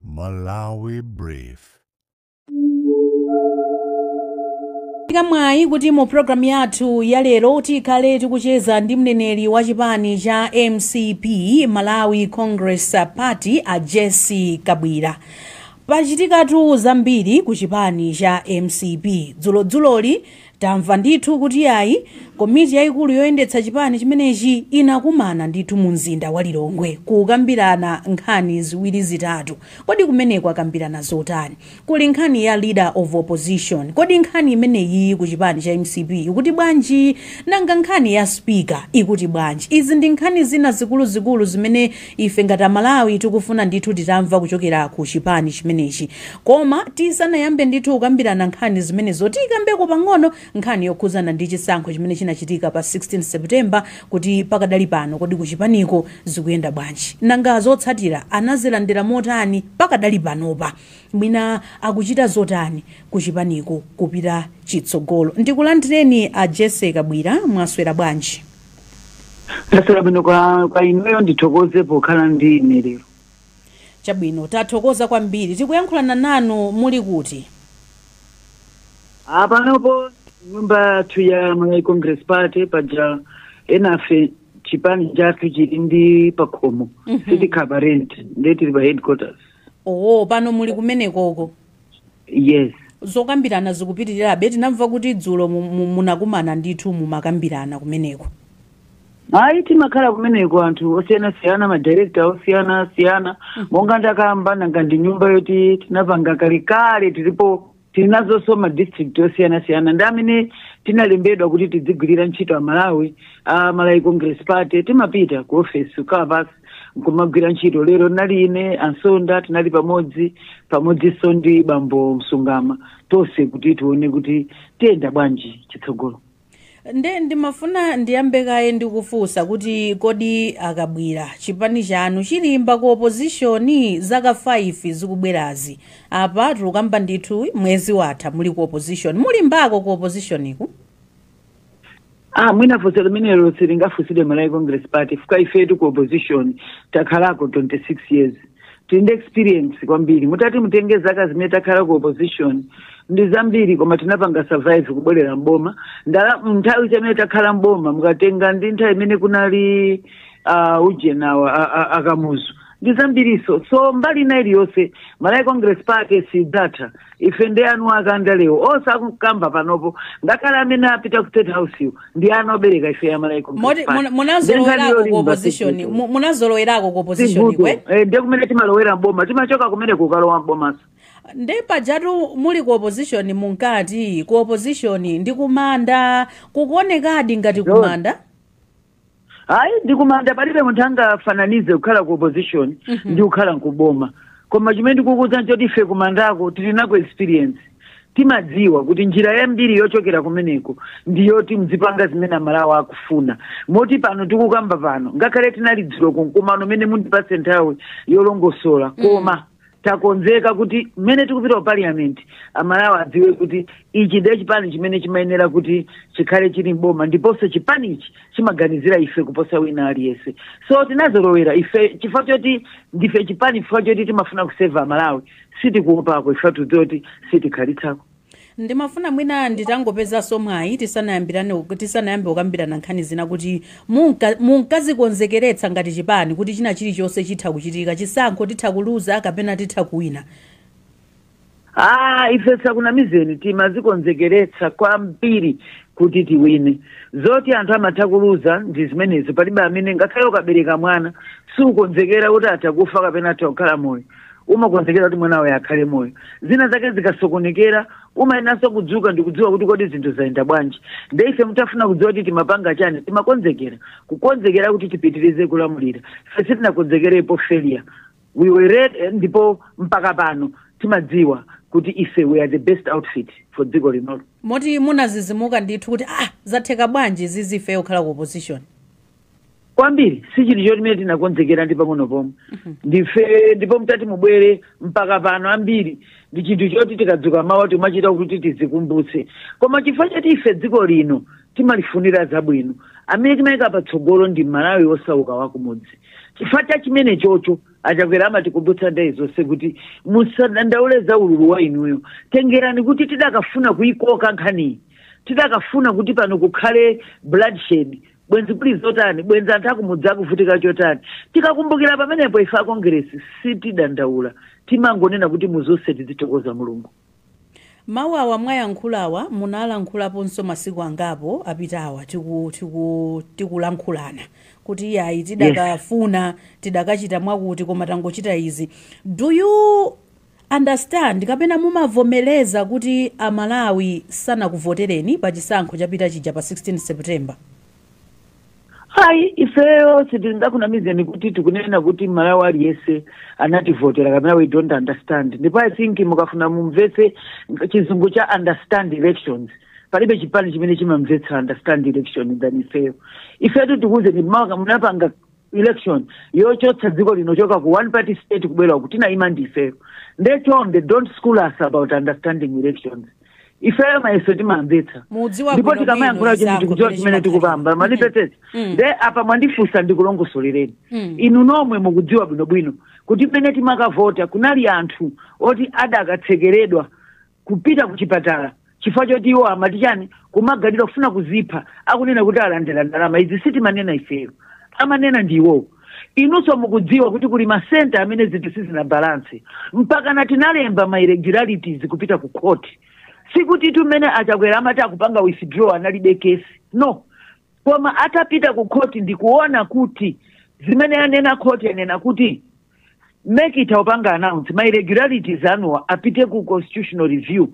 Malawi Brief. Tili ndi mwayi kuti mu programu yathu ya lero tikhale tikucheza ndi mneneri wa chipani cha mcp malawi congress party a Jessie Kabwila pachitikatu zambiri ku chipani cha mcp dzulodzuloli Tamva ndithu kuti yayi komiti yaikulu yoyendetsa chipani chimenechi inakumana ndithu mu mzinda wa Lilongwe kukambirana nkhani ziwiri zitatu. Kodi kumeneku akambirana zotani? Kuli nkhani ya Leader of Opposition. Kodi nkhani imeneyiyi ku chipani cha mcp ikuti bwanji? Nanga nkhani ya Speaker ikuti bwanji? Izi ndi nkhani zina zikuluzikulu zimene Ife ngati amalawi tikufuna ndithu titamva kuchokera ku chipani chimenechi. Koma tisanayambe ndithu kukambirana nkhani zimenezo tikambeko pang'ono nkhani yokhudzana ndi chisankho chimene chinachitika pa 16 September kuti pakadali pano kodi kuchipaniko zikuyenda bwanji? Nanga zotsatira anazilandira motani pakadali panopa? Mwina akuchita zotani kuchipaniko kupita chitsogolo? Ndikulandireni a Jessie Kabwila, mwaswera bwanji? ndaswera bwino kaya inuyo ndithokoze pokhala ndi ine lero chabwino tathokoza kwambiri tikuyankhulana nanu muli kuti apanopo nyumba yathu ya malawi congress party paja enafe chipani chathu chili ndi pakhomo sitikhala pa renti nde tili pa headquarters oo pano muli kumenekoko yes zokambirana zikupitirirabe tinamva kuti dzulo mu- mu- munakumana ndithu mumakambirana kumeneko ayi timakhala kumeneko anthu osiyanasiyana madirekta osiyanasiyana monga ndakamba nanga ndi nyumba yoti tinapanga kalekale tilipo tili nazonso madistrict osiyanasiyana ndi amene tinalembedwa kuti tidzigwirira ntchito amalawi a malawi congress party timapita ku ofesi kukhala pansi nkumagwira ntchito lero nali ine a Nsonda tinali pamodzi pamodzinso ndi bambo msungama tonse kuti tione kuti tiyenda bwanji chitsogolo nde ndimafuna ndiyambe kaye ndi kufunsa kuti kodi a Kabwila chipani chanu chilimba ku opozishoni zaka 5 zikubwerazi apa tikukamba ndithu mwezi watha muli ku opozishoni mulimbako ku opozishoniku Ah, mwina funso limenelo silingafunsidwe malawi congress party chifukwa ifetu ku opposition takhalako 26 years tili ndi experience kwambiri mutati mutenge zaka zimene takhala ku opposition ndi zambiri koma tinapanga survive kubwerera mboma ndala nthawi imene takhala mboma mukatenga ndi nthawi imene kunali uh, ujenawa a- a- akamuzu ndi zambirinso so mbali ina iliyonse malawi congress party sidzatha ife ndi anu akandalewo osakukamba panopo ngakhale amene apita ku state house wo ndi ana obereka ife ya malawi Moti- congress muna- party munazolowerako ku opposition mu- munazolowerako ku opposition kwe ndi kumene timalowera mboma timachoka kumene kukalowa mbomanso nde pajatu muli ku opposition munkati ku opposition ndi kumanda kukuonekadi ngati John. kumanda hayi ndikumanda palibe munthu angafananize kukhala ku opposition Mhm. ndi kukhala kuboma koma chimene ndikukuuza nchoti ife kumandako tili nako experience timadziwa kuti njira yambiri yochokera kumeneko ndi yoti mzipanga zimene amalawi akufuna moti pano tikukamba pano ngakhale tinali dzulo kumkumano umene mundipatse nthawi yolongosola koma takonzeka kuti mmene tikupita ku parliament amalawi adziwe kuti ichi ndiye chipani chimene chimayenera kuti chikhale chili mboma ndiponso chipanichi chimaganizira ife kuposa wina aliyense so tinazolowera ife chifukwa choti ndife chipani chifukwa choti timafuna kuseva amalawi sitikuopako chifukwa tidziwa kuti sitikhalitsako Ndimafuna mwina nditangopezanso mwayi tisanayambirane ku, tisanayambe kukambirana nkhani zina kuti munka, munkazikonzekeretsa ngati chipani kuti china chilichonse chitha kuchitika, chisankho titha kuluza kapena titha kuwina? Aaa ife tisakunamizeni timazikonzekeretsa kwambiri kuti tiwine. Zoti anthu amatha kuluza ndi zimenezo palibe amene, ngakhale ukabereka mwana sukukonzekera kuti atha kufa kapena atha kukhala moyo. umakonzekera kuti mwana wako akhale moyo zina zake zikasokonekera umayenanso kudzuka ndikudziwa kuti kodi zinthu zayenda bwanji nde ife mutafuna kudziwa kuti timapanga chani timakonzekera kukonzekera kuti tipitirize kulamulira ife sitinakonzekerepo failure we were ready ndipo mpaka pano timadziwa kuti ife we are the best outfit for dziko linolo moti munadzidzimuka ndithu kuti ah zatheka bwanji zizifeyo kukhala ku opposition kwambiri si chinthu chimene tinakonzekera ndi pang'ono pomwe ndife ndipo mtati mubwere mpaka pano ambiri ndi chinthu choti tikadzuka mawa timachita kuti tizikumbutse koma chifukwa choti ife dziko lino timalifunira zabwino amene timayika patsogolo ndi mmalawi osauka wakumudzi chifukwa cha chimenecho a Chakwera amatikumbutsa nthawi zonse kuti musadandaule za ululu wa inuyo tengerani kuti tidakafuna kuyikoka nkhaniyi tidakafuna kuti pano kukhale bloodshed bwenzi kuli zotani bwenzi anthu akumudzi akuvutika chotani tikakumbukira pamenepo ife akongeresi sitidandaula timangonena kuti muzonse tizithokoza mulungu mawu awa mwayankhulawa munalankhulaponso masiku angapo apitawa tiku- tiku- tikulankhulana kuti iyayi tidakafuna tidakachita mwakuti koma tangochita izi do you understand kapena mumavomeleza kuti a Malawi sanakuvotereni pa chisankho chapita chija pa 16 September? hayi ifeyo sitingakunamizeni kuti tikunena kuti malawi aliyese anativotera kapena we don't understand ndipo i think mukafuna mumvetse chizungu cha understand elections palibe chipani chimene chimamvetsa understand election than ifeyo ifetu tikuuzeni amene tinapanga election yochotsa dziko lino choka ku one party state kubwera kuti naima ndifeyo nde chonde don't school us about understanding elections ifeyo mayeso timamvetsa Mudziwa ndipo bwino tikamayankhula bwino chinthu tikudziwa zako chimene zimene tikupamba zimapanga. manipetete Mm. nde apa mwandifunsa ndikulongosolereni Mm. inu nomwe mukudziwa bwinobwino kuti mmene timakavota kunali anthu oti adakatsekeredwa kupita kuchipatala chifukwa choti iwo amati chani kumaganiridwa kufuna kuzipha akunena kuti alandira ndalama izi sitimanena ifeyo amanena ndi iwowo inunso mukudziwa kuti kuli masenta amene zinthu sizinabalansi mpakana tinalemba ma irregularities kupita ku court sikutitu mmene a Chakwera amati akupanga withdraw analibe kesi no koma atapita ku court ndikuona kuti zimene yanena court yanena kuti MEC itha kupanga announce ma irregularities anuwo apite ku constitutional review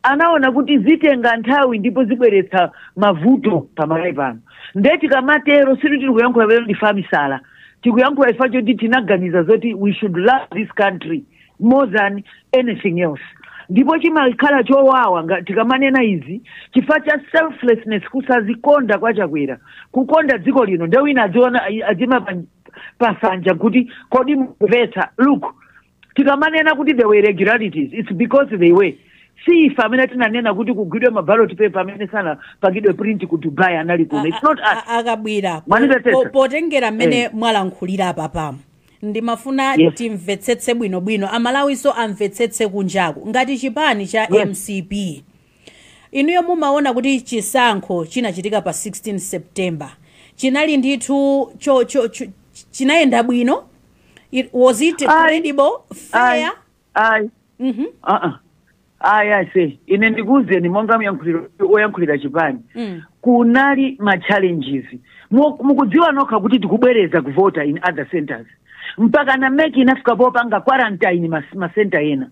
anaona kuti zitenga nthawi ndipo zibweretsa mavuto pamalawi pano nde tikamatero si kuti tikuyankhula pamene ndife amisala tikuyankhula chifa choti tinaganiza zoti we should love this country more than anything else ndipo chimakhala chowawa nga- tikamanena izi chifukwa cha selflessness kusazikonda kwa chakwera kukonda dziko lino nde wina adziyima adziyima pa nsanja kuti kodi mumvetsa look tikamanena kuti there were irregularities it's because they were si ife amene tinanena kuti kugwidwe mabaloti pepa amene sanapangidwe print ku dubai anali kuno it's not us A- a- akabwira po- Mwanimvetsetsa? po- potengera mmene Eh. mwalankhulira apapamu ndimafuna Yes. timvetsetse bwinobwino a Malawinso amvetsetse kunjaku ngati chipani cha Yes. mcp Inuyo mumaona kuti chisankho chinachitika pa 16 September chinali ndithu cho, cho, cho, chinayenda bwino? It, was it Ayi. credible, ayi fair? ayi Mhm. aa ayi ase ine ndikuwuzeni monga mneneri oyankhulira chipani Mm. kunali ma challenges Mu- mukudziwa nokha kuti tikubwereza kuvota in other centers mpakana MEC inafika popanga quarantine mas- ma center ena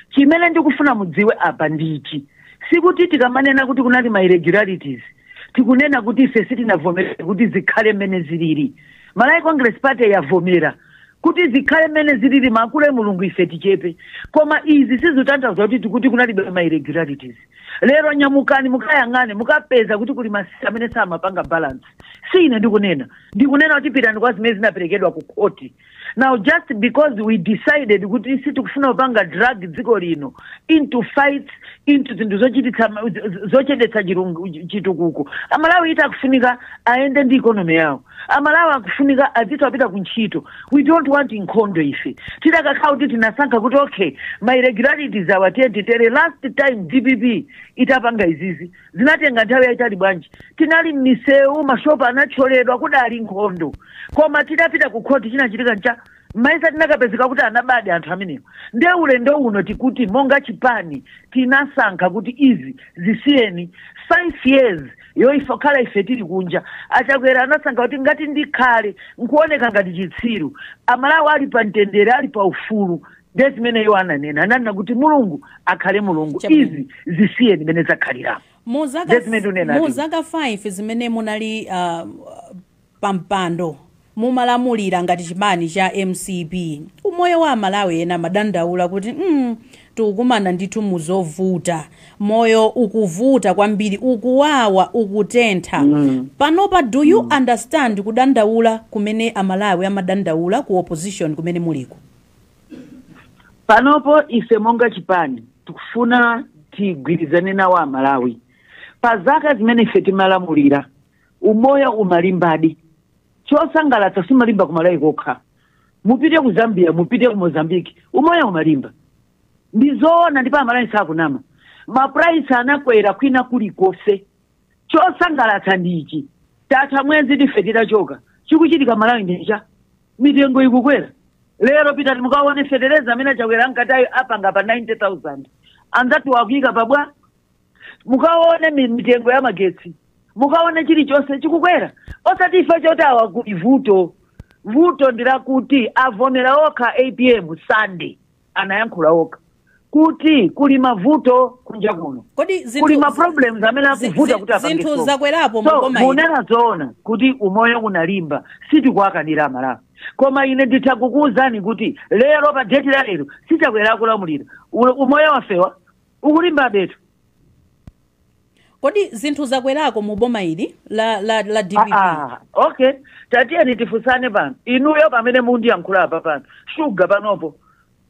chimene ndikufuna mudziwe apa ndi ichi sikuti tikamanena kuti kunali ma irregularities tikunena kuti ife sitinavomere kuti zikhale mmene zilili malawi congress party yavomera kuti zikhale mmene zilili akule mulungu ife tichepe koma izi sizitanthauza kuti tikuti kunalibe ma irregularities lero nyamukani mukayang'ane mukapeza kuti kuli masamu amene samapanga balance si ine ndikunena ndikunena kuti pitani kwa zimene zinaperekedwa ku khoti now just because we decided kuti sitikufuna kupanga drag dziko lino into fights into zinthu zochititsa ma- z- z- zochedetsa chirungu- chitukuko amalawi eti akufunika ayende ndi ikonomi yawo amalawi akufunika adzitha apita ku ntchito we don't want nkhondo ife tidakakhala kuti tinasankha kuti okay ma irregularities awa titetetere last time dpp itapanga izizi zinatenga nthawi yayitali bwanji tinali m'misewu mashopu anathyoledwa kudali nkhondo koma tidapita ku khoti chinachitika nchani mayesa tinakapezeka kuti anabadi anthu amenewo nde ulendo uno tikuti monga chipani tinasankha kuti izi zisiyeni five years yoyipa khala ife tili kunja achakwera anasankha kuti ngati ndikhale nkuoneka ngati chitsiru amalawi ali pa mtendere ali pa ufulu ndiye zimene iwo ananena ananena kuti mulungu akhale mulungu Chabwino. izi zisiyeni mmene zakhalira mu zaka Ndiye zimene unena mu ati. zaka 5 zimene munali uh, pampando mumalamulira ngati chipani cha mcp umoyo wa amalawi ena amadandaula kuti mm, tikukumana ndithu muzovuta moyo ukuvuta kwambiri ukuwawa ukutentha mm. panopa do you mm. understand kudandaula kumene amalawi amadandaula ku opposition kumene muliko panopo ife monga chipani tikufuna tigwirizane nawo amalawi pa zaka zimene ife timalamulira umoyo umalimbadi chosangalatsa sumalimba ku malawi kokha mupite ku zambia mupite ku mozambique umoyo umalimba ndi zoona ndipo amalawi sakunama mapuraisi anakwera kwina kulikonse chosangalatsa ndi ichi tatha mwezi ife titachoka chikuchitika m'malawi ndichani mitengo ikukwera lero pitani mukaone fetereza amene achakwera ankati ayi apanga pa 90000 anzathu akuika pa bwa mukaone mi- mitengo ya magetsi mukaone chilichonse chikukwera osati ife choti awa kuti vuto vuto ndilakuti avomera okha apm sunday anayankhula okha kuti kuli mavuto kunja kuno kodi zinthu- kuli ma problems amene zi- akuvuta zi- kuti apange zinthu solve. zakwerapo so maboma ino. munena zoona kuti umoyo unalimba sitikuwakanira amalawi koma ine nditha kukuwuzani kuti lero pa date la lero si chakwera akulamulira Ule- umoyo wafewa ukulimbabetu kodi zinthu zakwerako mu boma ili la, la, la dpp Ah, okay tatiyeni tifunsane pano inuyo pamene mukundiyankhula apa pano shuga panopo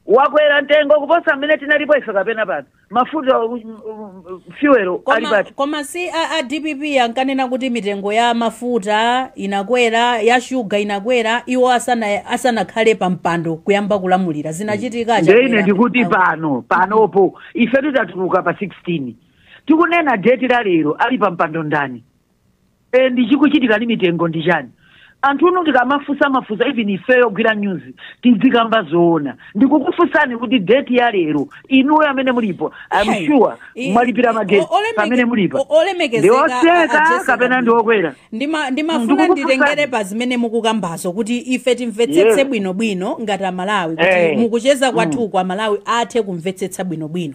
wakwera mtengo kuposa mmene tinalipo ife kapena pano mafuta um, um, fuel ali koma, pati koma si a, a dpp ankanena kuti mitengo ya mafuta inakwera ya shuga inakwera iwo asana asanakhale pa mpando kuyamba kulamulira zinachitika nde ine ndikuti pano panopo ife titatuluka pa 16 tikunena date la lero ali pa mpando ndani and chikuchitika ndi mitengo ndi chani anthunu tikamafusa mafunso even ife yogwira news tidzikamba zoona ndikukufusani kuti date ya lero inuyo amene mulipo Hey. I'm sure I- mwalipira i- magetsi o- olemeke- pamene mulipo o- olemekezeka a- a ndi otsika Jessica kapena Banda. ndi okwera Ndima- ndimafuna Ndikukufusani. nditengere pa zimene mukukambazo kuti ife timvetsetse Yes. bwinobwino ngati amalawi kuti Eh. mukucheza kwathuku amalawi athe kumvetsetsa bwinobwino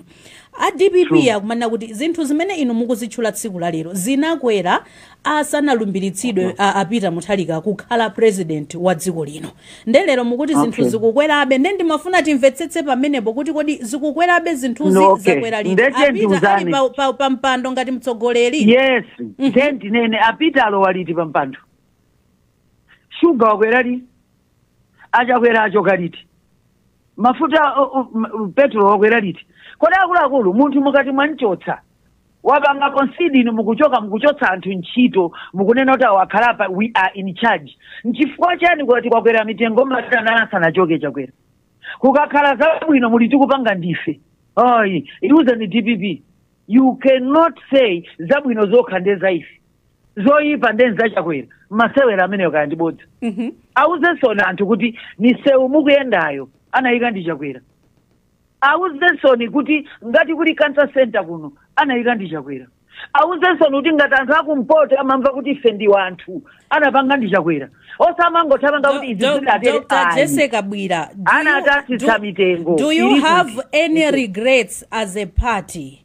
a dpp True. akumanena kuti zinthu zimene inu mukuzitchula tsiku la lero zinakwera asanalumbiritsidwe a- a Peter Mutharika kukhala president wa dziko lino nde lero mukuti zinthu Okay. zikukwerabe nde ndimafuna timvetsetse pamenepo kuti kodi zikukwerabe zinthuzi No, okay. zakwera liti Ndeke a Peter ali ndiuzani. pa- pa- pa mpando ngati mtsogoleri yes nde ndinene a Peter alowa liti pampando shuga wakwera liti a Chakwera achoka liti mafuta o- o- m- m- petulo wakwera liti kodi akuluakulu munthu mukati mwamchotsa wapanga concede inu mukuchoka mukuchotsa anthu ntchito mukunena kuti awa akhalapa we are in charge nchifukwa chani kuti kwakwera mitengo madana asanachoke Chakwera kukakhala zabwino muli tikupanga ndife ayi iwuzeni dpp you cannot say zabwino zokha nde za ife zoyipa nde nzachakwera masewera ameneyo kayani bodza Mhm. awuzensoni anthu kuti misewu mukuyendayo anayika ndi chakwera awuzensoni kuti ngati kuli cancer center kuno anayika ndi chakwera awuzensoni kuti ngati anthu akumpoto amamva kuti ife ndi wanthu anapanga ndi chakwera osamangothamanga kuti izi Doc- zidatere Dr. ayi. Jesse Kabwila, do you- Anatsitsa do- mitengo, Do you ilipo. have any regrets as a party?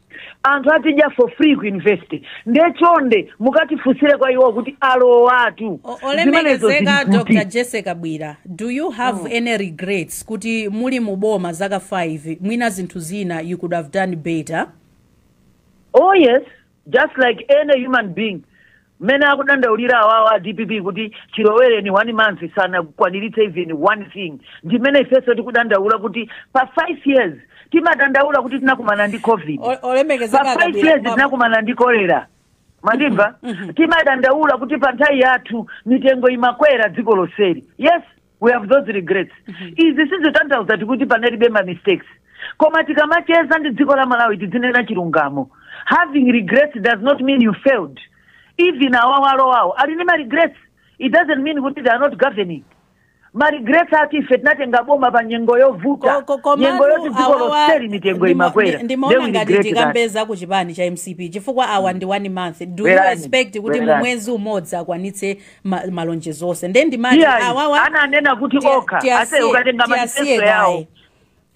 anthu azidya for free ku university nde chonde mukatifunsire kwa iwo kuti alowatu O- Zimenezo zili olemekezeka kuti? dr jesse Kabwila do you have any regrets kuti muli mu boma zaka 5 mwina zinthu zina you could have done better Oh yes, just like any human being. Mmene akudandaulira awawa a dpp kuti chilowereni one month sanakwaniritse even one thing ndi mmene ifenso tikudandaula kuti pa five years timadandaula kuti tinakumana ndi covid O- olemekezeka pa five a Kabwila years kumwamba. tinakumana ndi kolera mandimva timadandaula kuti pa nthawi yathu mitengo imakwera dziko lonseli yes we have those regrets izi sizotanthauza kuti panalibe ma mistakes koma tikamacheza ndi dziko la malawi tidzinena chilungamo having regrets does not mean you failed even awawo alowawo ali ndi ma regrets it doesn't mean kuti they are not governing ma regrets akuti ife tinatenga boma pa nyengo yovuta Ko- ko- nyengo komatu yoti dziko awawa lonseli mitengo ndimo- imakwera ndi- ndimaona Then we ngati regret that. tikambe za ku chipani cha mcp chifukwa awa ndi one month do you Bwerani, expect kuti mu bwerani. mwezi umodzi akwanitse ma, malonjezo onse nde ndimati iyayi awawa ananena kuti tiya- okha ase tiyasiye ukatenga tiyasiye manifesto yawo kaye ayi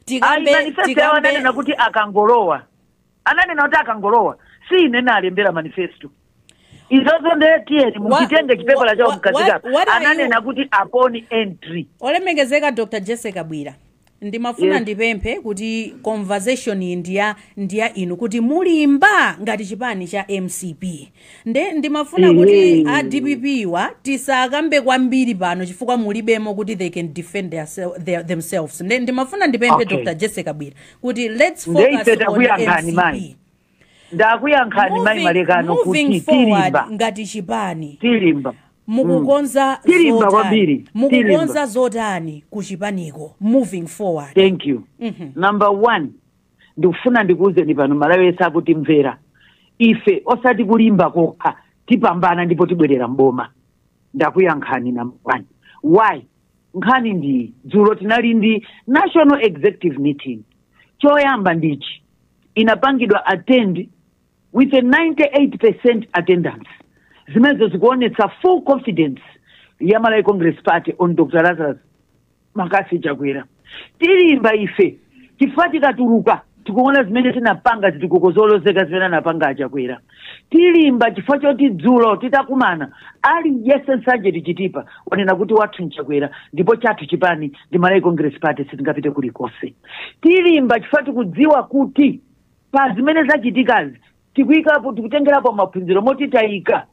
tikambe manifesto yawo tikambe ananena kuti akangolowa ananena kuti akangolowa si ine nalembera manifesto izozo nde tiyeni Wa- mukitenge chipepala wa- chawo wa- mkazikapa what are you- ananena kuti upon entry olemekezeka dr jessie kabwila ndimafuna Yes. ndipemphe kuti conversation iyi ndiya ndiya inu kuti mulimba ngati chipani cha mcp nde ndimafuna kuti Ehe. a dpp wa tisakambe kwambiri pano chifukwa mulibemo kuti they can defend their, sel- their, themselves nde ndimafuna ndipemphe Okay. dr jessie kabwila kuti let's Nde focus ife on takuyankhani, mcp mayi. ndakuyankhani mayi Moving- malekano moving kuti forward tilimba ngati chipani tilimba mukukonza Tilimba zotani? kwambiri. mukukonza Tilimba. zotani ku chipaniko moving forward thank you Mhm. number one ndikufuna ndikuwuzeni pano malawi yese akutimvera ife osati kulimba kokha tipambana ndipo tibwerera mboma ndakuyankhani number one why nkhani ndiyi dzulo tinali ndi national executive meeting choyamba ndichi inapangidwa attend with a 98% attendance zimenezo zikuonetsa full confidence ya malawi congress party on dr lazarus mccarthy chakwera tilimba ife chifukwa tikatuluka tikuona zimene tinapanga zitukuko zolozeka zimene anapanga achakwera tilimba chifukwa choti dzulo titakumana aliyense nsanje to chitipa wanena kuti wathu nchakwera ndipo chathu chipani ndi malawi congress party sitingapite kulikonse tilimba chifukwa tikudziwa kuti pa zimene zachitikazi tikuyikapo tikutengerapo maphunziro moti tayika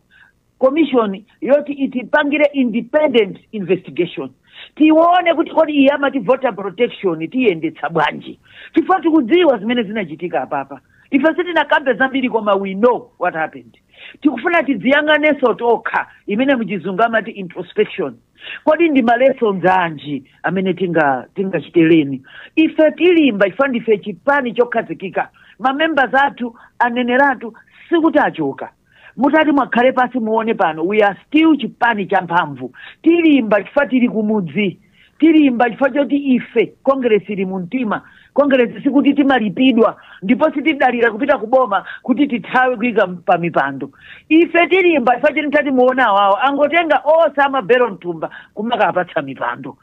commission yoti itipangire independent investigation tione kuti kodi iyi amati voter protection tiyendetsa bwanji chifukwa tikudziwa zimene zinachitika apapa ife sitinakambe zambiri koma we know what happened tikufuna tidziyang'anenso tokha imene mchizungu amati introspection kodi ndi malessons anji amene tinga tingachite learn ife tilimba chifukwa ndife chipani chokhazikika mamembers athu aneneratu sikuti achoka mutati mukhale pansi muone pano we are still chipani cha mphamvu tilimba chifukwa tili kumudzi tilimba chifukwa choti ife kongeresi ili mu mtima kongeresi sikuti timalipidwa ndipo sitidalira kupita ku boma kuti tithawe kuyika pa mipando ife tilimba chifukwa choti mutati muone awawo angotenga onse amabelo mtumba kumakapatsa mipando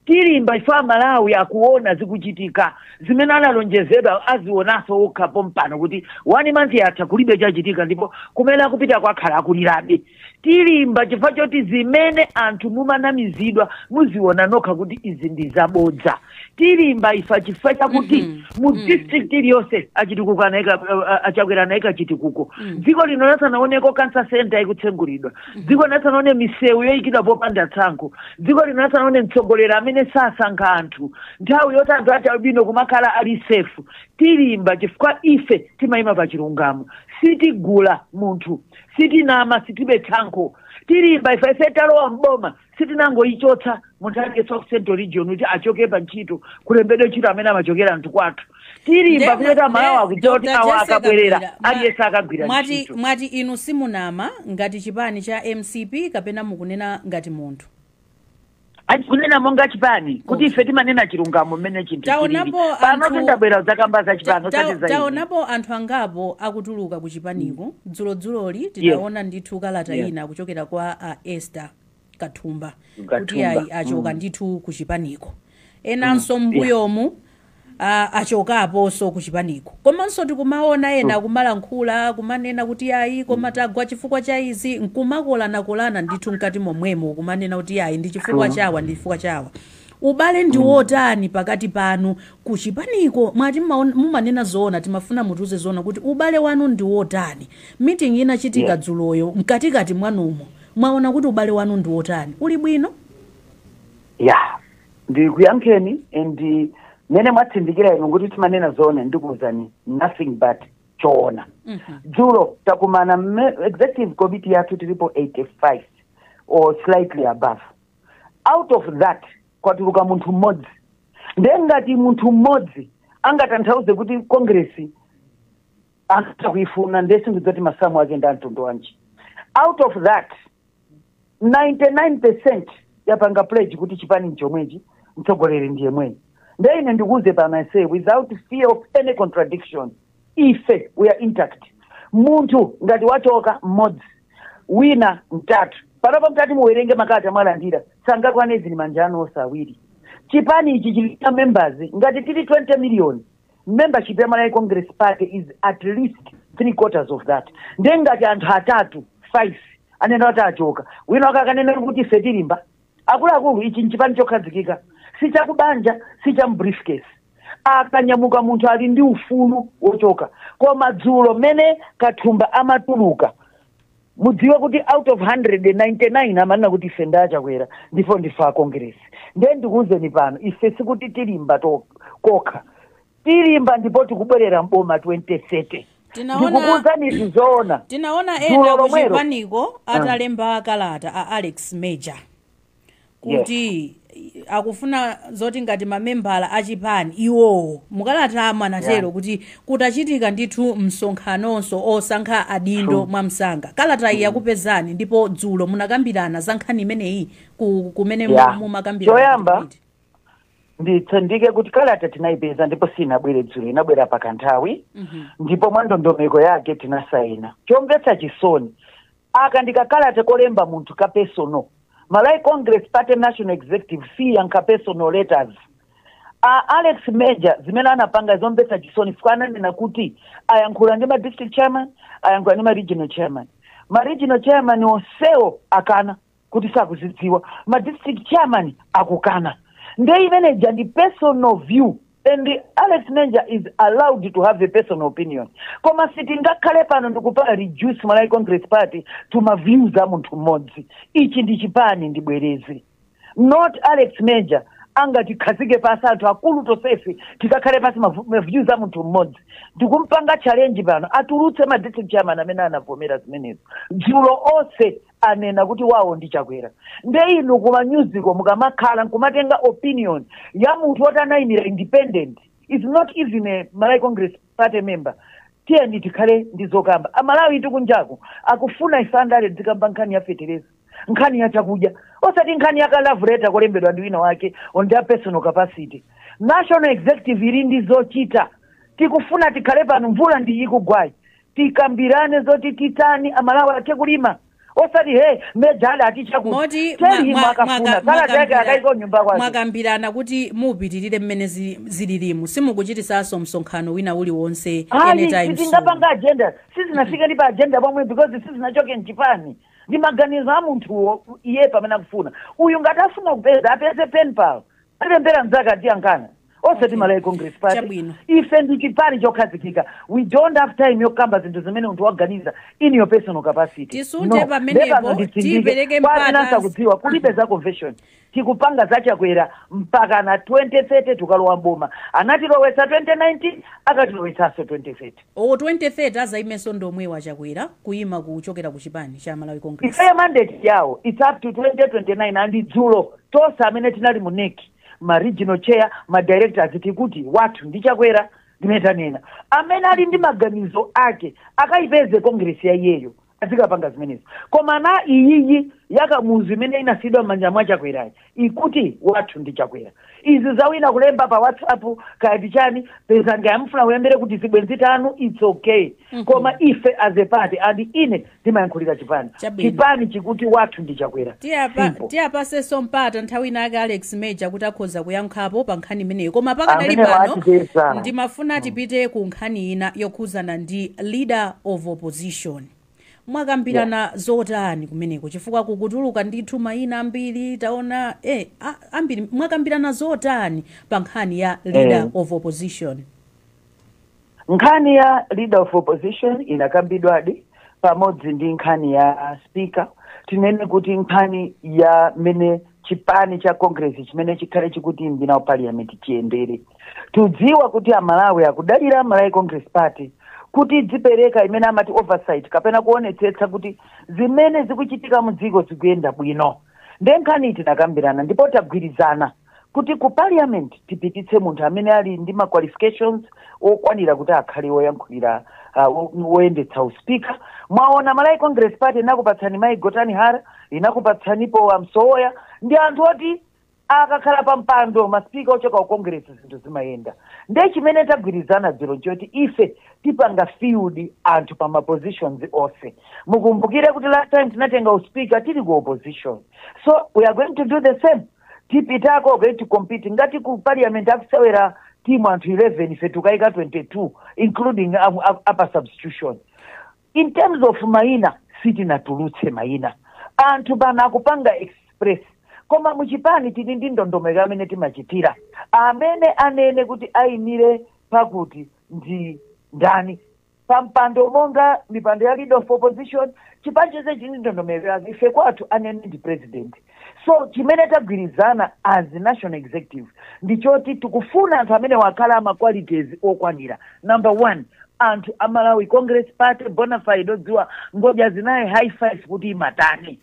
Tilimba chifukwa amalawi akuona zikuchitika, zimene analonjezedwa azionaso okha pompano kuti 1 month yatha kulibe chachitika ndipo kumene akupitako akhala akulirabe. Tilimba chifukwa choti zimene anthu mumanamizidwa muziona nokha kuti izi ndi zabodza. Tilimba ife chifukwa chakuti mu district iliyonse achitukuko anaika, a Chakwera anaika chitukuko. Dziko lino lisanaoneko cancer centre ikutsegulidwa. dziko lino lisanaone misewu yoyikidwa popanda tsankho dziko lino lisanaone mtsogoleri amene sasankha anthu nthawi yoti anthu achialubino kumakhala ali safe tilimba chifukwa ife timayima pa chilungamo sitigula munthu sitinama sitibe tsankho tilimba ife ife talowa mboma sitinangoyichotsa munthu aliyense wa ku central region kuti achoke pa ntchito kulembedwe ntchito amene amachokera anthu kwathu tilimba Nde- kuti aMalawi nde- akudziwa kuti Dr. awa Jesse akabwerera Kabwila, mwa- aliyense akagwira mwati, ntchito mwati inu simunama ngati chipani cha mcp kapena mukunena ngati munthu Ati kunena monga chipani kuti ife timanena chilungamo mmene chinthu chilili Taonapo pano anthu- tindabwera dzakamba za chipani Ta- ta- osati za ine. taonapo anthu angapo akutuluka ku chipaniko dzulodzuloli tinaona ndithu kalata Yes. ina kuchokera kwa a esther kathumba kuti Kathumba, ayi achoka mm. ndithu ku chipaniko enanso mbuyomu a- achokaponso ku chipaniko komanso tikumaona ena kumalankhula kumanena kuti ayi koma tagwa chifukwa cha izi nkumakolanakolana ndithu mkati momwemo kumanena kuti ayi ndi chifukwa chawa ndi chifukwa chawa ubale ndi wotani pakati panu ku chipaniko mwati mmaon- mumanena zoona timafuna mutiuze zoona kuti ubale wanu ndi wotani meeting inachitika dzuloyo mkatikati mwanumo Mwaona kuti ubale wanu ndi wotani? Uli bwino? Yeah. Ndikuyankheni and mmene mwatsindikira inu kuti timanena zoona ndikuwuzani nothing but choona. Dzulo takumana mme- executive committee yathu tilipo 85 or slightly above. Out of that kwatuluka munthu mmodzi. Ndiye ngati munthu mmodzi angatanthauze kuti Congress anthu sakuifuna ndiye sindidziwa kuti masamu ake ndi amtundu wanji out of that 99 percent yapanga pledge kuti chipani nchomwechi mtsogoleri ndi yemweyi ndiye ine ndikuuze pano i say without fear of any contradiction ife we are intact munthu ngati wachoka mmodzi wina mtatu panopa mutati muwerenge makalata mwalandira sangakwane zili manja anu onse awiri chipani ichi chili ndi members ngati tili 20 miliyoni membership ya malawi congress party is at least three quarters of that ndiye ngati anthu atatu five anena kuti achoka wina wake akanena kuti ife tilimba akuluakulu ichi nchipani chokhazikika si chakubanja si cha mbriefcase akanyamuka munthu ali ndi ufulu wochoka koma dzulo mmene kathumba amatuluka mudziwe kuti out of 199 amanena kuti ife ndi a Chakwera ndipo ndife a congress ndiye ndikuwuzeni pano ife sikuti tilimba to- kokha tilimba ndipo tikubwerera mboma 2030 Tinaona- ndikukuwuzani izi zoona tinaona Dzulo ena lomwelo. kuchipaniko atalemba kalata a alex major kuti akufuna zoti ngati mamembala a chipani iwowo mukalatamo anatero Yeah. kuti kutachitika ndithu msonkhanonso osankha adindo True. mwamsanga kalata iyi yakupezani ndipo dzulo munakambirana za nkhani imeneyi ku- kumene mu- Yeah. mumakambirana Choyamba, kuti- nditsindike kuti kalata tinayipeza ndipo sinabwere dzulo inabwera pakanthawi Mhm. ndipo mwa ndondomeko yake tinasayina chomvetsa chisoni aka ndikakalata kolemba munthu ka personal Malawi Congress Party National Executive siyankha personal letters Alex Major zimene anapanga zomvetsa chisoni chifukwa ananena kuti ayankhula ndi ma district chairman ayankhula ndi ma regional chairman ma regional chairman onsewo akana kuti sakuzidziwa ma district chairman akukana nde imeneja ndi personal view and alex major is allowed to have a personal opinion koma sitingakhale pano ndikupanga reduce malawi congress party to maviews a munthu mmodzi ichi ndi chipani ndibwereze not alex major angatikhazike pasi anthu akulu tonsefe tikakhale pasi mavu- maviews a munthu mmodzi ndikumpanga challenge pano atulutse ma district chairman amene anavomera zimenezo dzulo onse anena kuti wawo ndi chakwera nde inu kuma nyuziko mukamakhala nkumatenga opinion ya munthu woti anayimira independent is not even a malawi congress party member tiyeni tikhale ndi zokamba amalawitu kunjaku akufuna ife andale tizikamba nkhani ya fetereza nkhani ya chakudya osati nkhani ya ka love letter kolembedwa ndi wina wake on their personal capacity national executive ili ndi zochita tikufuna tikhale pano mvula ndi ikugwayi tikambirane zoti titani amalawi athe kulima osati a major atichakuti tell him akafuna kalata yake akaike nyumba kwake mwakambirana kuti mupitirire mmene zi- zililimu simukuchitisanso msonkhano wina uliwonse hayi anytime soon. sitingapange agenda sizinafike ndi pa agenda pomwe because sizinachoke mchipani ndi maganizo a munthu iye pamene akufuna uyu ngati afuna kupeza apeze penpal alemberane mzake aziyankhana osati Okay. malawi congress party Chabwino. ife ndi chipani chokhazikika we don't have time yokamba zinthu zimene munthu waganiza in your personal capacity Tisunte No. pamenepo, Nde pano nditsindike. tipereke Kwa amene mpata- asakudziwa kulibe za convention tikupanga za Chakwera mpaka na 2030 tukalowa mboma anatilowetsa 2019 akatilowetsanso 2030 o 2030 azaimenso ndi omwewa Chakwera kuyima kuchokera ku chipani cha malawi congress ifeyo mandate yawo its up to 2029 and dzulo tonse amene tinali mu NEC ma regional chair ma directors tikuti wathu ndi chakwera ndimene tanena amene ali ndi maganizo ake akayipeze kongresi ya iyeyo azikapanga zimenezo koma iyiyi ya kamuzu imene inasiyidwa m'manja mwa chakwerayi ikuti wathu ndi chakwera izi zawina kulemba pa whatsapp kaya ndi chani pezani amene mufuna muyambire kuti zibwenzi tanu its okay koma ife as a party and ine timayankhulira chipani chipani chikuti wathu ndi chakwera tiwapatsenso mpata nthawi inayake alex major kuti akhoza kuyankhapo pa nkhani imeneyo koma pakadali pano ndimafuna tipite ku nkhani ina yokhuzana ndi leader of opposition mwakambirana zotani kumeneko chifukwa kukutuluka ndithu mayina ambiri taona eh, a- ambiri mwakambirana zotani pa nkhani ya leader of opposition nkhani ya leader of opposition inakambidwadi pamodzi ndi nkhani ya speaker tinene kuti nkhani ya mmene chipani cha congress chimene chikhale chikutimbina mu parliament chiyendere tidziwa kuti amalawi akudalira malawi congress party kuti idzipereka imene amati oversight kapena kuonetsetsa kuti zimene zikuchitika mu dziko zikuyenda bwino nde nkhani iyi tinakambirana ndipo tagwirizana kuti ku parliament tipititse munthu amene ali ndi ma qualifications okwanira kuti akhale woyankhulira uh, wo- woyendetsa uspika mwaona malawi congress party inakupatsani mayi gotani hara inakupatsanipo amsowoya ndi anthu oti akakhala pa mpando masipika ochoka ku congress zinthu zimayenda nde chimene tagwirizana dzulo nchoti ife tipanga field anthu pa mapositions onse mukumbukire kuti last time tinatenga uspika tili ku opposition so we are going to do the same tipita kukati compete ngati ku parliament akusewera timu anthu 11 ife tikaika 22 including a- a- apa substitution in terms of maina sitinatulutse maina anthu pano akupanga express koma muchipani tili ndi ndondomeko imene timachitira amene anene kuti ayimire pakuti ndi ndani pampando monga mipando ya leader of opposition chipani chonse chili ndi ndondomeko yake ife kwathu anene ndi president so chimene tagwirizana as national executive ndi choti tikufuna anthu amene akhale ama qualities okwanira number one anthu a malawi congress party bona fide odziwa ngodya zinayi high five kuti imatani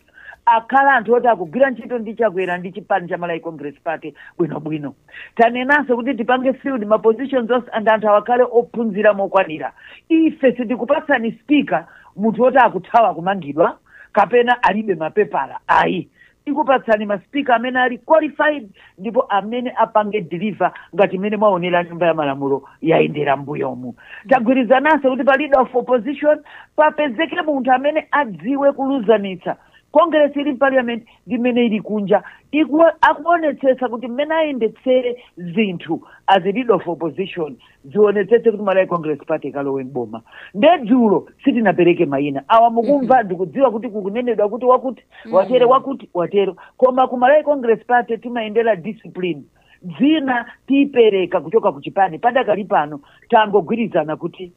akhale anthu oti akugwira ntchito ndi chakwera ndi chipani cha malawi congress party bwinobwino tanenanso kuti tipange field ma positions onse and anthu awa akhale ophunzira mokwanira ife sitikupatsani speaker munthu woti akuthawa kumangidwa kapena alibe mapepala ayi tikupatsani maspika amene ali qualified ndipo amene apange deliver ngati mmene mwaonera nyumba ya malamulo yayendera mbuyomu tagwirizananso kuti pa leader of opposition papezeke munthu amene adziwe kuluzanitsa congress ili mparliament ndi mmene ili kunja akuonetsetsa kuti mmene ayendetsere zinthu as a leader of opposition zionetsetse kuti malawi congress party ikalowe mboma nde dzulo sitinapereke mayina awa mukumva ndikudziwa kuti kukunenedwa kuti wakuti watero wakuti watero koma ku malawi congress party timayendera discipline dzina tipereka kuchoka ku chipani padakali pano tangogwirizana kuti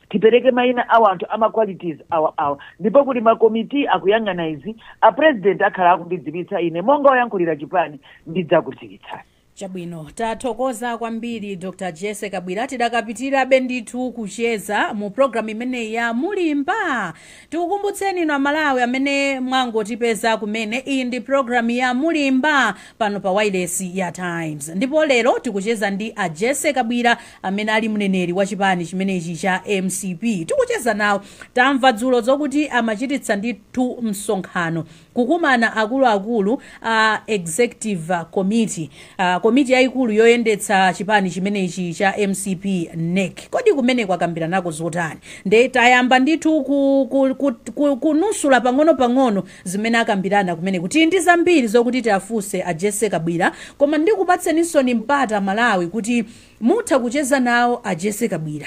tipereke mayina a wanthu ama qualities awa awa ndipo kuti makomiti akuyang'ana izi a president akhala akundidziwitsa ine monga oyankhulira chipani ndidzakudziwitsani Chabwino, tathokoza kwambiri Dr Jessie Kabwila. Tidakapitirabe ndithu kucheza mu programu imeneyi ya Mulimba. Tikukumbutseni inu aMalawi amene mwangotipeza kumene, iyi ndi programu ya Mulimba pano pa wailesi ya Times, ndipo lero tikucheza ndi a Jessie Kabwila amene ali mneneri wa chipani chimenechi cha mcp. Tikucheza nawo, tamva dzulo zokuti amachititsa ndithu msonkhano Kukumana akuluakulu a Executive Committee, komiti yaikulu yoyendetsa chipani chimenechi cha mcp, nec, kodi kumeneko akambiranako zotani? Nde tayamba ndithu kunusula pang'ono pang'ono zimene akambirana kumeneko. Tili ndi zambiri zokuti tiafunse a Jessie Kabwila koma ndikupatseninsoni mpata Malawi kuti mutha kucheza nawo a Jessie Kabwila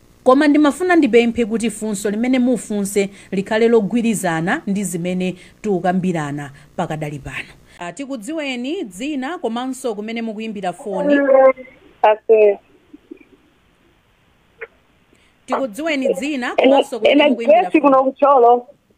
Koma ndimafuna ndipemphe kuti funso limene mufunse likhale logwirizana ndi zimene tikukambirana pakadali pano. A, Tikudziweni, dzina komanso kumene mukuimbira foni. Ase. Tikudziweni, dzina komanso kumene Ena mukuimbira Grace foni. kuno ku Thyolo.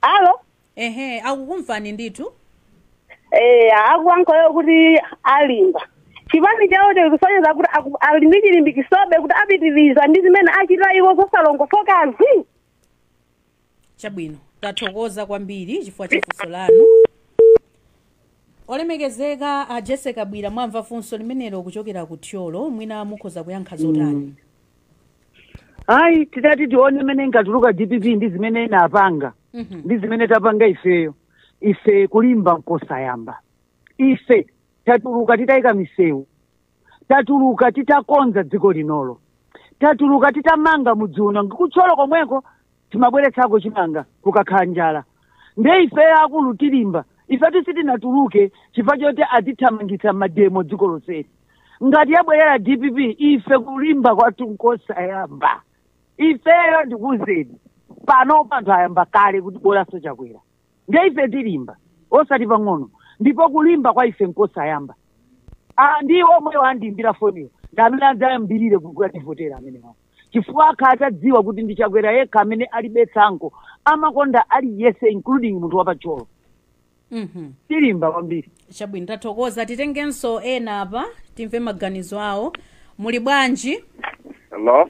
alo ehe akukumvani ndithu eh akuyankhula kuti alimba chipani chawo chikusonyeza kuti aku- ali ndi chilimbikisobe kuti apitiriza ndi zimene achita iwo zosalongosokazi chabwino tathokoza kwambiri chifukwa cha funso lanu olemekezeka a jessie kabwila mwamva funso limenelo kuchokera ku thyolo mwina mukhoza kuyankha zotani ayi titati tione mmene inkatuluka dpp ndi zimene inapanga Mhm. ndi zimene tapanga ifeyo ife kulimba nkosayamba ife tatuluka titayika misewu tatuluka titakonza dziko linolo tatuluka titamanga mudzi uno ngati ku thyolo komweko timabweretsako chimanga kukakhala njala nde ife akulu tilimba ifetu sitinatuluke chifukwa choti atithamangitsa mademo dziko lonseli ngati yabwerera dpp ife kulimba kwathu nkosayamba ifeyo ndikuuzeni pano anthu ayamba kale kuti bolanso chakwera ndiye ife tilimba osati pang'ono ndipo kulimba kwa ife nkosayamba Ah, ndi omwewo andiimbira foniyo ndi amene adzayambirire kukativotera amenewa chifukwa akhala atadziwa kuti ndi chakwera yekha amene alibe tsankho amakonda aliyese including munthu wa pa thyolo Mhm. tilimba kwambiri chabwino tathokoza titengenso ena apa timve maganizo awo muli bwanji Hello?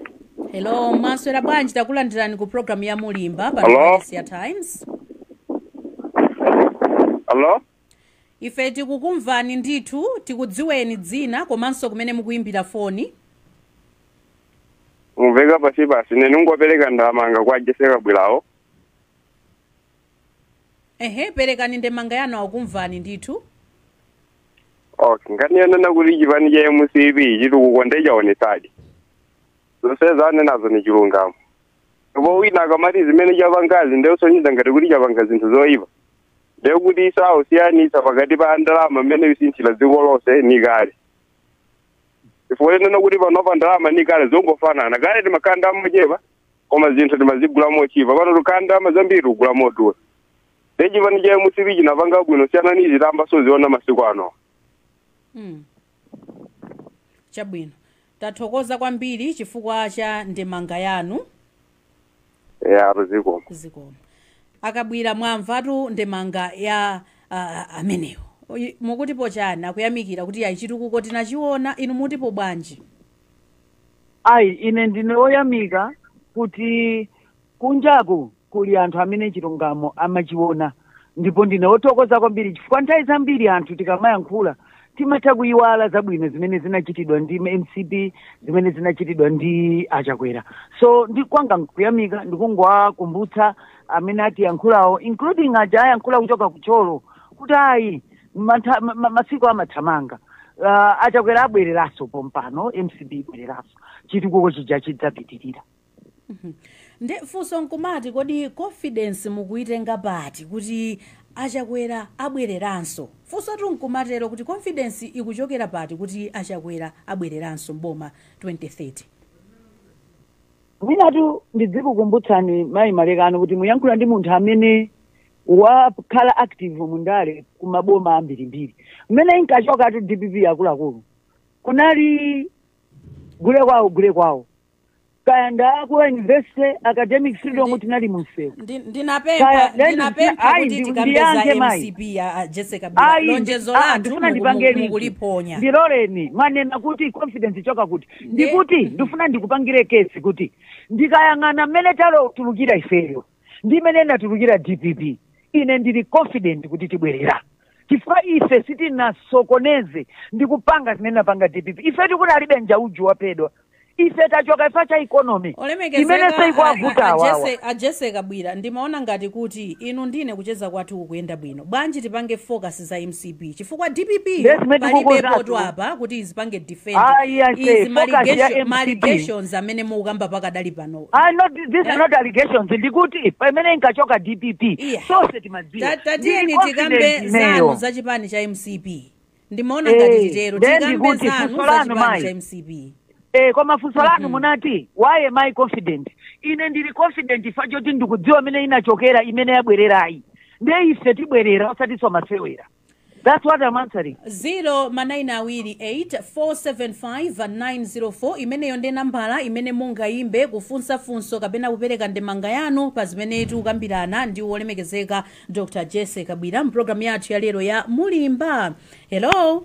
hello mwaswera bwanji takulandirani ku programu ya mulimba pa Times Hello? ife tikukumvani ndithu tikudziweni dzina komanso kumene mukuyimbira foni Mukumveka pansi pansi ine ndi ngopereka ndemanga kwa Jessie Kabwilawo. ehe perekani ndemanga yanu akumvani ndithu okay nkhani yonena kuti chipani cha mcp chitukuko nde chinaonetsadi zonse zanenazo ni chilungamo ndipo wina akamati zimene chapangazi nde kusonyeza ngati kuti chapanga zinthu zoyipa nde kuti iwo sakusiyanitsa pakati pa ndalama mmene ikusinthira dziko lonse ni kale chifukwa chonena kuti panopa ndalama ni kale zongofanana kale timakhala ndalama zochepa koma zinthu timazigula motchipa pano tikukhala ndalama zambiri kugula modula nde chipani cha mcp chinapanga bwino kusiyana ndi zitayamba kuziona masiku ano Mm. chabwino tathokoza kwambiri chifukwa cha ndemanga yanu zikomo a Kabwila mwamvatu ndemanga ya uh, amenewo mukutipo chani akuyamikira kuti ayi chitukuko tinachiona inu mutipo bwanji ayi ine ndine woyamika kuti kunjaku kuli anthu amene chilungamo amachiona ndipo ndine wothokoza kwambiri chifukwa nthawi zambiri anthu tikamayankhula timatha kuyiwala zabwino zimene zinachitidwa ndi mcp zimene zinachitidwa ndi a Chakwera so ndi kwanga kuyamika ndikungowakumbutsa amene atiyankhulawo including aja ayankhula kuchoka ku Thyolo kuti ayi masiku amathamanga uh, a Chakwera abwereranso pompano mcp ibwereranso chitukuko chija chidzapitirira nde funso nkumati kodi confidence mukuyitenga pati kuti a Chakwera abwereranso funsotu nkumatero kuti confidence ikuchokera pati kuti a Chakwera abwereranso mboma 2030 mwinatu ndidzikukumbutsani mayi Malekano kuti muyankhula ndi munthu amene wakhala active mundale kumaboma ambirimbiri mmene inkachokatu dpp akuluakulu kunali gule kwawo gule kwawo kaya nda ku university academic freedom tinali munsewu Ndi- Kaya, ndinapempha then ndinapempha ayi, kuti ndi- tikambeza ndiyankhe mayi. mcp ya a Jessie Ayi, Kabwila. lonjezo ah, lathu ndifuna muku- ndipangeni mukuliponya ndiloleni mwanena kuti confidence ichoka kuti ndikuti ndifuna ndikupangire case kuti ndikayang'ana mmene tatulukira ifeyo ndi mmene inatulukira dpp ine ndili confident kuti tibwerera chifukwa ife sitinasokoneze ndi kupanga zimene inapanga dpp ife tikuti palibe Njauju waphedwa ife tachoka chifukwa cha economy imene ikuwavuta awawa a Jessie Kabwila ndimaona ngati kuti inu ndi ine kucheza kwathu kukuyenda bwino bwanji tipange focus za mcp chifukwa dpp yo Ndiye zimene palibepo tikukonzatu. tu apa kuti izipange defend Ayi, I say, izi focus ya maligasho- MCP. ma allegations amene mukukamba pakadali pano Ah, not, these are not allegations ndikuti pamene inkachoka dpp Yeah. tonse timadziwa Ta- tatiyeni Ndili tikambe confident zanu ineyo. za chipani cha mcp ndimaona Eh, ngati titero then tikambe ndikuti zanu funso za lanu chipani mayi. cha mcp Eh, koma funso lanu Mhm. munati why am I confident ine ndili confident chifukwa choti ndikudziwa imene inachokera imene yabwererayi nde ife tibwerera osatinso masewera that's what I'm answering 0 ma 9 awiri 8 475 904 imeneyo ndi nambala imene mungayimbe kufunsa funso kapena kupereka ndemanga yanu pa zimene tikukambirana ndi wolemekezeka dr jessie kabwila m'pulogalamu yathu ya lero ya mulimba hello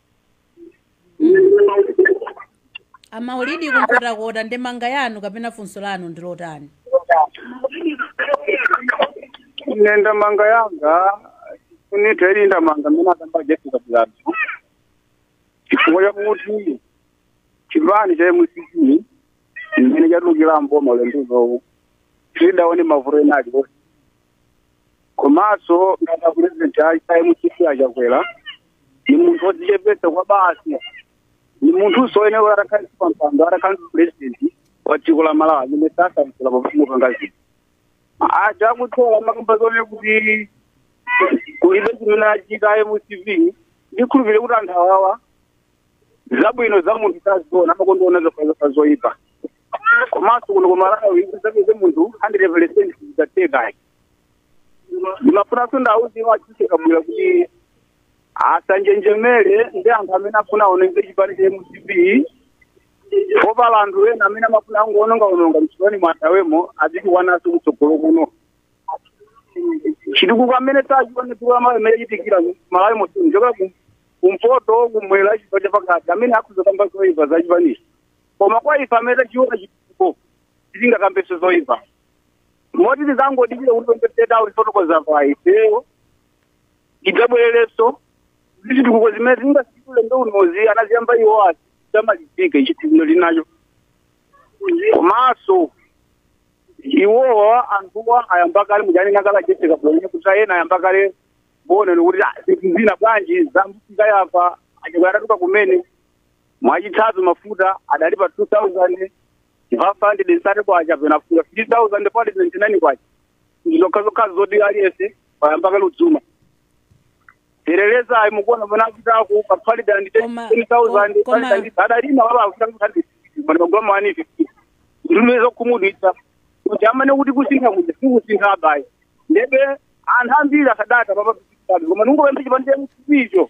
a maulidi ku nkhotakota ndemanga yanu kapena funso lanu ndi lotani ine ndemanga yanga ndithirire ndemanga mmene akamba a jessie kabwilatu chifukwa chakuti chipani cha mcp mmene chatulukira mboma ulendo unowu sitidaone mavuto ena aliwonse komanso ngati apurezidenti a mcp a chakwera ni munthu wodzichepetsa kwabasi ni munthunso oyenera atakhala pa mpando atakhala president wa dziko la malawi amene sasamukula pafumu pangazi aja akuthola amakamba zonena kuti kulibe chimene achita mcp ndikhulupirire kuti anthu awawa zabwino za munthu saziona amakonda kuona zofazofa zoyipa komanso kuno ku malawi kuti uzapeze munthu 100 percent sizitheka ayi ndimafunanso ndiwauze a jessie kabwila kuti asanjenjemere ndi anthu amene afuna aononge chipani cha mcp poti pali anthu ena amene amafuna angoonongaononga mchipani mwatawemo azitukwanaso kutsogolo kuno chitukuko amene tachiona tulo amayi amene chitikira malawi monse kuchoka ku- kumpoto kumwera chigawo chapakati amene akungokamba zoipa za chipanichi koma kwa ife amene tachiona chitukuko sitingakambeso zoipa moti tizangodikira kuti pembedzeta ulifotokoza pa ifeyo tidzabwererenso zitukuko zimene tingasitule ulendo unozi anaziyamba iwo ati zamalizika chitukuko chinacho komanso iwowo anthuwa ayamba kale muja anena kale a jessie kabwila kuti ena ayamba kale ponena kuti ah, zinthu zina bwanji zambuka yapa a chakwera adatuluka kumene mwachitsanzo mafuta adali pa 2000 five hundred thousand kwacha pena fika fifty thousand pali ninety nine kwacha ndizokhazokhazo zoti aliyese wayamba kale kudzuma telereza ayi mukuona mwana akitaku kapali dandi Koma- ten thousand koma- pali dandi adalima wala akusangu handi mwana magula mawani fifty ndimeza kumudwitsa kuti amane kuti kusintha kuti sikusintha abayi ndebe anthu ambiri akadata papapitikabe koma nungopembe chipande chakusipicho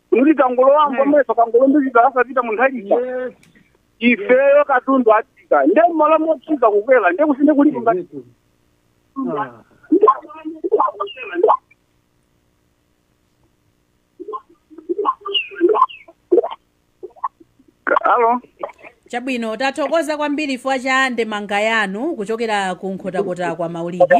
kuti akangolowa m'boma akangolumbiritsidwa asapita munthu alicha Yes. ifeyo katundu atsika nde mmalo motsika kukwera nde kusintha kuli kunga Zetu. Ah. alo chabwino tathokoza kwambiri chifukwa cha ndemanga yanu kuchokera ku nkhotakota kwa maulidi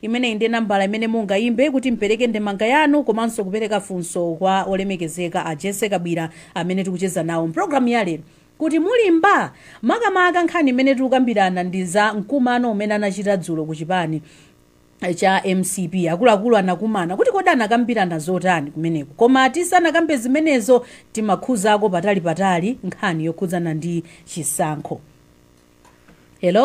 Imeneyi ndiye nambala imene mungaimbe kuti mpereke ndemanga yanu komanso kupereka funso kwa olemekezeka a Jessy Kabwira amene tikucheza nawo mpulogalamu ya lero kuti mulimba? Makamaka nkhani imene tikukambirana ndi za mkumano umene anachita dzulo ku chipani cha mcp akuluakulu anakumana kuti kodi anakambirana zotani kumeneko koma tisanakambe zimenezo timakhudzako patali patali nkhani yokhudzana ndi chisankho hello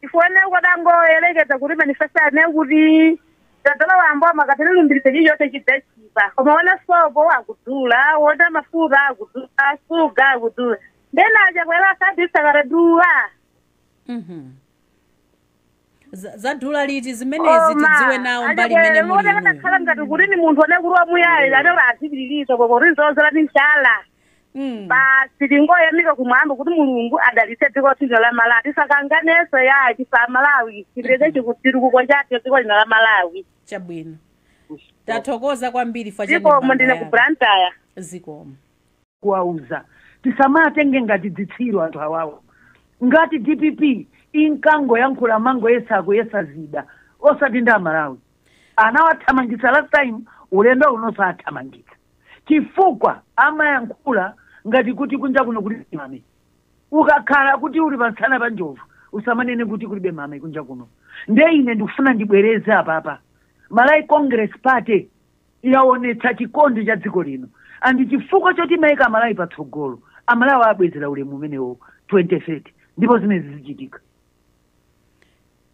chifukwa ine ukadangoyerekeza kuti manifesto anena kuti tadzalowa m'boma akatilumbiritsa chilichonse chidzatchipa koma ona sopo akudula ona mafuta akudula shuga akudula ndiye zinachitakwera asabisa kadadula Mhm. Za- zadula liti zimenezi tidziwe nawo mbali imene muli inuyo. akakhala ngati kuti ni munthu one kuti wamuyayira anero azipitiriza koma kuti tizozera ni njala Mm. basi tingoyamika kumwamba kuti mulungu adalitse dziko lathu lino la malawi tisakanganenso chifukwa cha malawi chipireke chitukuko chathu dziko lino la malawi chabwino tathokoza kwambiri fa zikomo ndine ku Blantyre zikomo kuwauza asamatitenge ngati dzitsiru anthu awawo ngati dpp inkangoyankhula mangoyesa akuyesa zida osati ndi amalawi anawathamangitsa last time ulendo uno sathamangitsa chifukwa amayankhula ngati kuti kunja kuno kulibe mame ukakhala kuti uli pamsana pa njovu usamanene kuti kulibe mame kunja kuno nde ine ndikufuna ndibwereze apapa malawi congress party yaonetsa chikondi cha dziko lino and chifukwa choti yaika amalawi patsogolo amalawi abwezera ulemu umenewo 2030 ndipo zimene zizichitika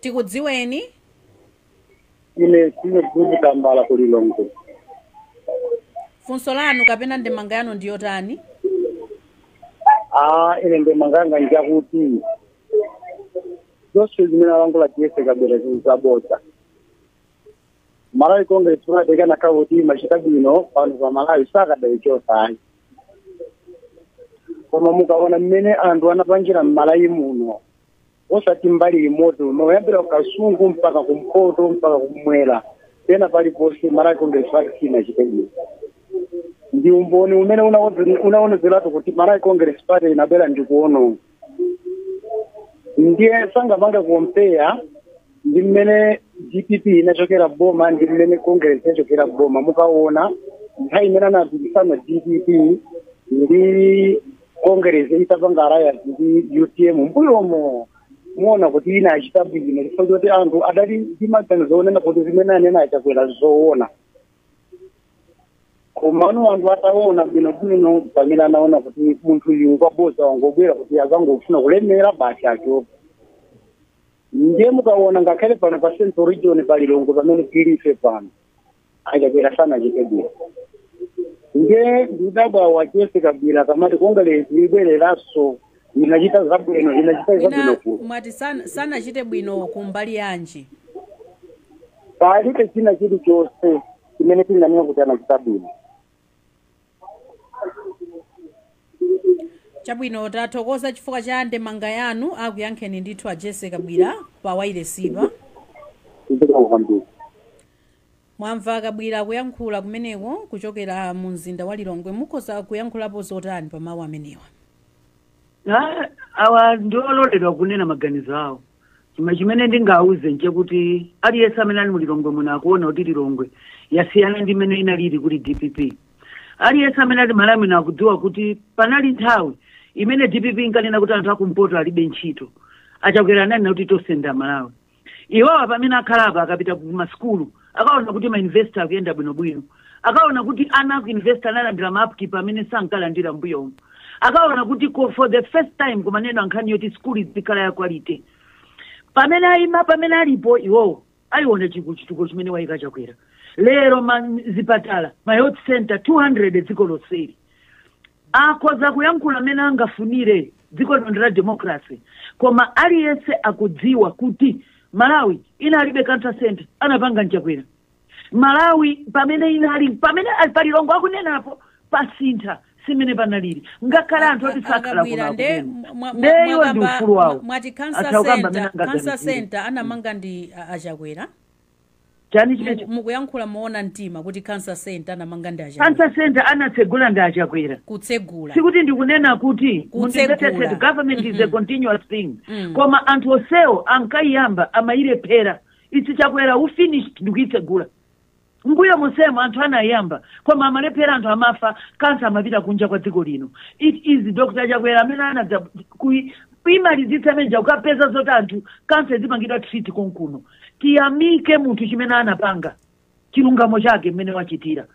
tikudziweni ine sine gudu tambala ku Lilongwe funso lanu kapena ndemanga yanu ndi yotani ah ine ndemanganga njakuti zonse zimene alankhula Jessie Kabwila ndi zabodza malawi congress kunakakhala kuti imachita bwino pano pa malawi sakadayichotsa ayi koma mukaona mmene anthu anapangira mmalawi muno osati mbali imodzi koma kuyambira kukasungu mpaka kumpoto mpaka kumwera pena paliponse malawi congress party sinachite bwino ndi umboni umene unaonetseratu kuti malawi congress party inabwera ndi kuononga ndiye sangapange kompeya ndi mmene dpp inachokera boma ndi mmene congress inachokera boma mukaona nthawi imene anapikisana dpp ndi congress itapanga alliance ndi utm mbuyomo muona kuti inachita bwino chifukwa choti anthu adali ndi maganizo onena kuti zimene anena a Chakwera nzoona komano anthu ataona bwino bwino pamene anaona kuti munthu uyu ngwaboza wangobwera kuti akungofuna kulemera basi achoke ndiye mukaona ngakhale pano pa central region pa Lilongwe pamene tili ife pano a Chakwera sanachite bwino ndiye ndikudabwa a Jessie Kabwila akamati kongeresi ibwereranso inachita zabwino inachita zabwino mwina ku mwati sana- sanachite bwino kumbali yanji palibe china chilichonse chimene tinganene kuti anachita bwino chabwino tathokoza chifukwa cha ndemanga yanu akuyankheni ndithu a Jessie Kabwila pa wailesipa zikomo kwambiri Mwamva a Kabwila kuyankhula kumeneko kuchokera mu mzinda wa Lilongwe. Mukhoza kuyankhulapo zotani pa mawu amenewa? Ah, awa ndi ololedwa kunena maganizo awo koma chimene ndingawauze nchakuti aliyense amene ali mu lilongwe muno akuona kuti lilongwe yasiyana ndi mmene inalili kuli dpp aliyense amene ali malawi muno akudziwa kuti panali nthawi imene dpp inkanena kuti anthu akumpoto alibe ntchito a Chakwera ananena kuti tonse ndi amalawi iwowa pamene akhala apa akapita ku masukulu akaona kuti ma university akuyenda bwinobwino akaona kuti ana aku university analandira ma upkeep amene sankalandira mbuyomu akaona kuti ko- for the first time kumanena nkhani yoti sukulu izikhala ya quality pamene ayima pamene alipo iwowo achiona chi- chitukuko chimene wayika Chakwera lero ma zipatala ma health center 200 dziko lonseli Akhoza kuyankhula mmene angafunire dziko lino ndi la democracy koma aliyense akudziwa kuti Malawi inalibe cancer centre anapanga nChakwera Malawi pamene inali pamene ali pa Lilongwe akunenapo pasintha si mmene panalili ngakhale A- anthu a- oti sakhala kuno akabwera nde akunena mwa- mwa- nde iwo ali ndi mwakamba ufulu mwa- wawo mwati cancer atha kukamba mmene center cancer angaganizire center anamanga ndi a- aChakwera chani chimenecho mukuyankhula moona mtima kuti cancer center anamanga ndi achakwera cancer center anatsegula ndi achakwera kutsegula sikuti ndikunena kuti Kutsegula. mundimvetsetse government is a continuous thing Mm. koma anthu onsewo ankayiyamba amayilephera it's chakwera who finished ndikuyitsegula mmbuyo monsemo anthu anayiyamba koma amalephera anthu amafa kansa amapita kunja kwa dziko lino it is dr chakwera amene anadza kuyi- kuimalizitsa imene ija kukapeza zoti anthu kansa azipangidwa treat konkuno tiyamike munthu chimene anapanga chilungamo chake mmene wachitira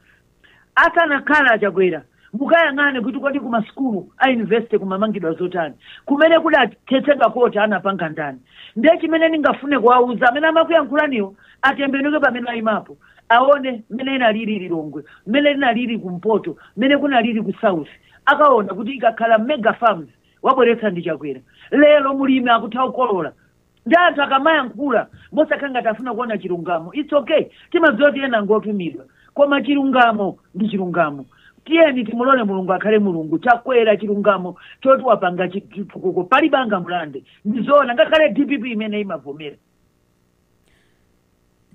asanakhala achakwera mukayang'ane kuti kodi kumasukulu a university kumamangidwa zotani kumene kudathetsedwa koti anapanga ndani ndiye chimene ningafune kuwauza amene amakuyankhulaniwo atembenuke pamene ayimapo aone mmene inalili lilongwe mmene inalili kumpoto mmene kunalili ku south akaona kuti ikakhala mega farms wabweretsa ndi chakwera lero mulimi akutha kukolola nde anthu akamayankhula mosakhala ngati afuna kuona chilungamo its okay timadziwa kuti ena ngotumidwa koma chilungamo ndi chilungamo tiyeni timulole mulungu akhale mulungu chakwera chilungamo choti wapanga chitukuko palibe angamulande ndizoona ngakhale dpp imene imavomera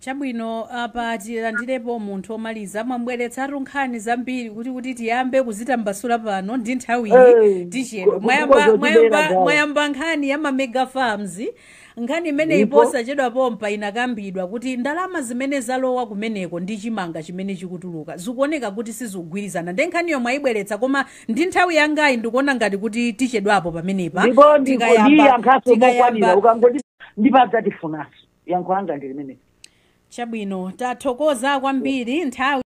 chabwino apa tilandirepo munthu womaliza mwabweretsatu nkhani zambiri kuti kuti tiyambe kuzitambasula pano ndi nthawiyi Eh, tichedwa ko- mwayamba, kokozo mwayamba, tibera gawo. mwayamba nkhani ya mamega farms nkhani imeneyi Ndipo- posachedwa pompa inakambidwa kuti ndalama zimene zalowa kumeneko ndi chimanga chimene chikutuluka zikuoneka kuti sizikugwirizana nde nkhaniyo mwayibweretsa koma ndi nthawi yangayi ndikuona ngati kuti tichedwapo pamenepa ndipo ndikodiya tikayamba nkhaso mokwanira tikayamba ukangoti ndipo adzatifunanso yankho langa ndi limeneli Chabwino, tathokoza kwambiri nthawi